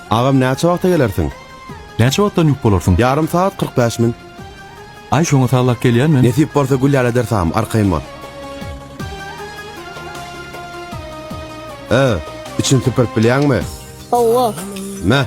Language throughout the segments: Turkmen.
Agam näçe wagta gelersiň? Näçe wagtdan ýük bolarsyň? Ýarym sagat kyrk bäş min. Aý şoňa sallap gelýän men. Nesip bolsa Gülýar ederis agam, arkaýyn bol. Öö, içini süpürip bilýäňmi? Hawa. Mä.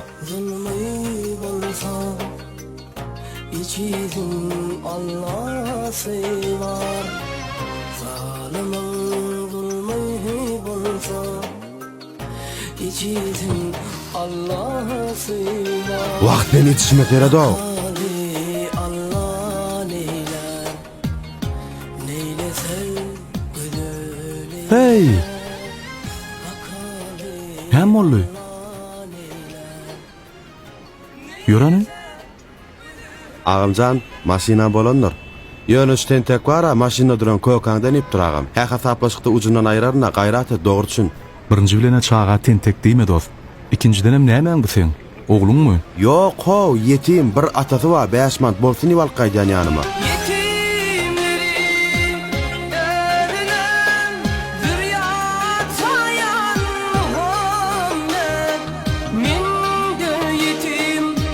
Wah sen ýetişme Feredo. Heý! Näme boldy? Ýöreni? Agymjan, maşynam bolandyr. Ýöne şu tentek bar-a, maşynda duran kökäňde inipdir, agam. Hä, hasaplaşykda ujundan aýraryn-a, gaýrat et, dogry çün. Birinji bilen-ä çaga tentek diýme, dost. Ikinjidenem nämäň bu seň? Ogluňmy? Ýok-how, ýetim, bir atasy bar, bäş mant bolsun diýip alyp gaýdýan ýanyma.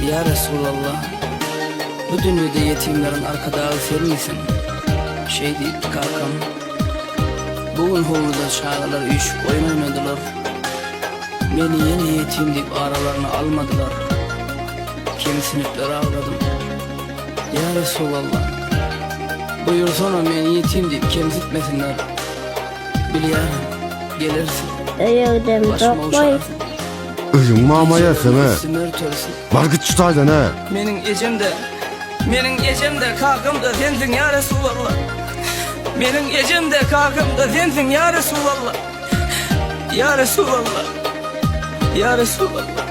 Ýa Resulallah, bu dünýede ýetimleriň arkadagy senmisin? Şeý diýipdi kakam. Bu gün howluda çagalar üýşüp oýun oýnadylar. Meni ýene ýetim diýip aralaryna almadylar. Kemsinipler agladym. Ýa Resulallah, buýursana meni ýetim diýip kemsitmesinler. Bilýärin, gelersiň. Öýügdem dok boýup. Özüň mama ýerseňe. Bar git şu taýdan-ä. Meniň ejem-de, meniň ejem-de, kakam-da sensiň ýa Resulalla. Meniň ejem-de, kakam-da sensiň ýa Resulalla. Ýa Resulalla. Ýa Resulalla.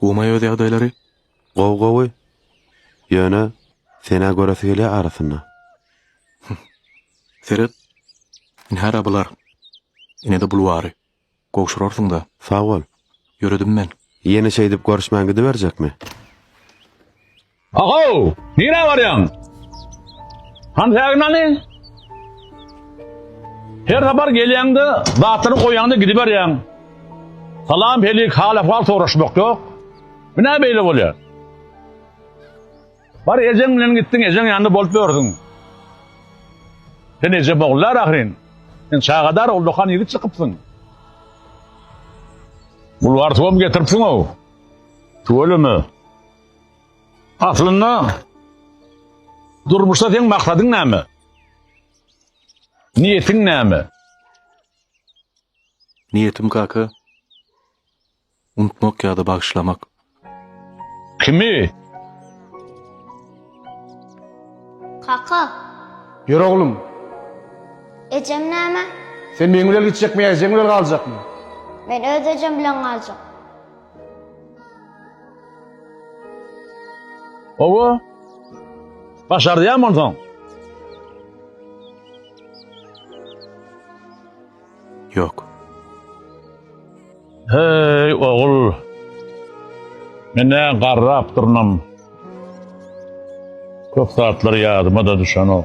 Gumay öz ýagdaýlary gowy gowy ýöne senä göresi gelýä arasynda. Seret, ine hara bular. Ine-de bulwary. Gowşurarsyň-da. Sag bol. Ýöredim men. Ýene şeýdip görüşmän gidiberjekmi? Ahow! Nirä barýaň? Hantägin hany? Her sapar gelýäňde, zatlary goýýaň-da gidiberýäň. Salam-helik, hal-ahwal soraşmak ýok. Bu nä beýle bolýar? Bar ejeň bilen gitdiň, ejeň ýanynda bolup ýörsüň. Sen eje boglar ahyryn. Sen çagadar ullakan ýigit çykypsyň. Bulgar suwam getiripsiň-ow. Tüweleme. Aslynda durmuşda seň maksadyň näme? Niýetiň näme? Niýetim kaka unutmak ýa-da bagyşlamak. Kimi? Kaka, Ýör oglum, ejem näme? sen meň bilen gitjekmi ýa ejeň bilen galjakmy? Men öz ejem bilen galjak. Owo. Başarýan bolsaň. Ýok. Hey, ogul. Men ne garrap durnam. Köp zatlar ýadyma da düşenok.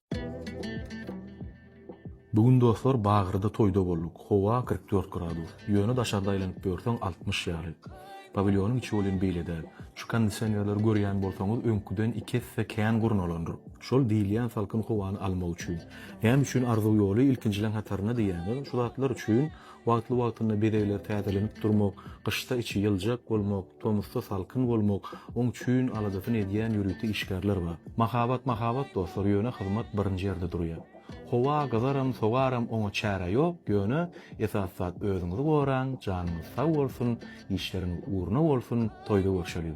Bu gün dostlar Bagyrda toýda bolduk. Howa kyrk dört gradus. Ýöne daşarda aýlanyp ýörseň altmyş ýaly. Pawilýonyň içi welin beýle däl. Şu kondisionerleri görýän bolsaňyz öňküden iki esse kän gurnalandyr. Şol diýilýän salkyn howany almak üçin. Näme üçin arzuw ýoly ilkinjileň hatarynda diýýäňiz? Şu zatlar üçin Wagtly-wagtynda bezegleri täzelenip durmak, gyşda içi ýyljak bolmak, tomusda salkyn bolmak oň çüýn aladasyny edýän ýörite işgärler bar. Mahabat mahabat dostlar, ýöne hyzmat birinji ýerde durýar. Howa gyzaram, sowaram oňa çäre ýok, ýöne esasy zat özüňizi goraň, janyňyz sag bolsun, işleriňiz ugruna bolsun, toýda görşeliň.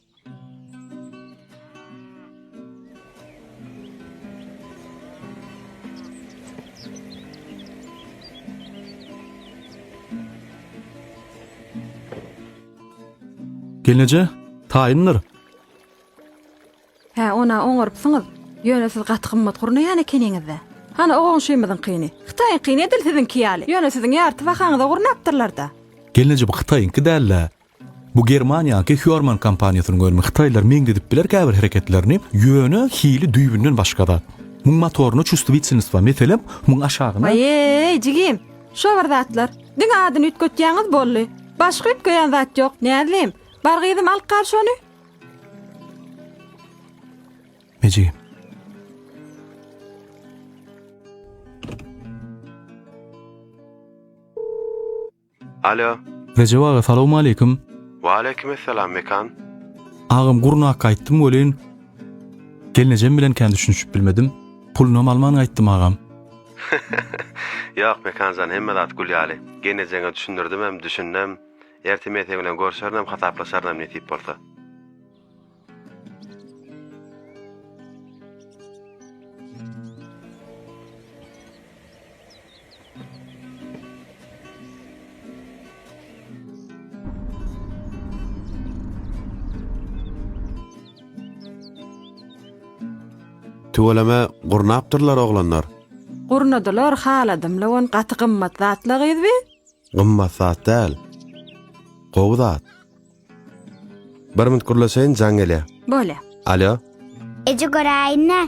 Gelneje, taýyndyr. Hä, ona oňarypsyňyz. Ýöne siz gaty gymmat gurnaýan ekeniňiz-dä. Hany o goňşymyzyňkyny. Hytaýyňkyny edil siziňki ýaly. Ýöne siziň ýarty bahaňyza gurnapdyrlar-da. Gelneje bu Hytaýyňky däl-de. Bu Germaniýaky Hörmann kompaniýasynyň önümi hytaýlar meňzedip biler käbir hereketlerini ýöne hili düýbünden başga zat. Muň motoryna çustwitsinstwa meselem muň aşagyna. Aýeý jigim şo bir zatlar diňe adyny üýtgetýäňiz boldy başga üýtgeýän zat ýok Näzlim bar gyzym alyp gal şony. Mejigim. Alo. Rejep aga salowmaleýkim. Waleýkim essalam Mekan. Agam gurnak gaýtdym welin gelnejem bilen kän düşünişip bilmedim. Pulunam alman gaýtdym agam. Ýok Mekanjan hemme zat gül ýaly. Gelnejeňe düşündirdimem, düşündem. Erte men seň bilen görşerinem, hasaplaşarynam nesip bolsa. Tüweleme gurnapdyrlar oglanlar. Gurnadylar haladım lawon gaty gymmat zatla gyzby? Gymmat zat däl. Gowy zat. Bir minut gürleşeýin, jaň gelýär. Bolýa. Alo. Eje göräýin-dä.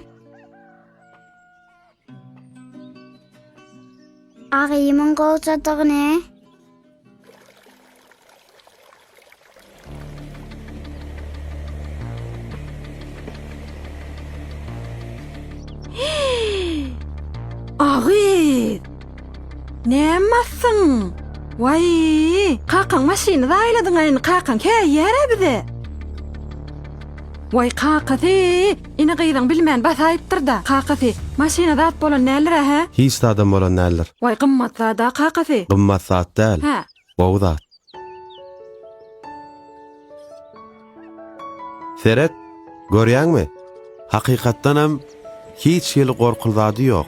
Agymyň gowjadygyny. Agyz! Nämasyň? Waý, kakaň maşyny zaýladyň-a indi kakaň käýýär-ä bize. Waý kakasy, ine gyzyň bilmän basaýypdyr-da, kakasy, maşyna zat bolan däldir-ä, hä? Hiç zadam bolan däldir. Waý gymmat zat-a kakasy. Gymmat zat däl. Hä, Gowy zat. Seret, görýäňmi? Hakykatdan hem hiç hili gorkuly zady ýok.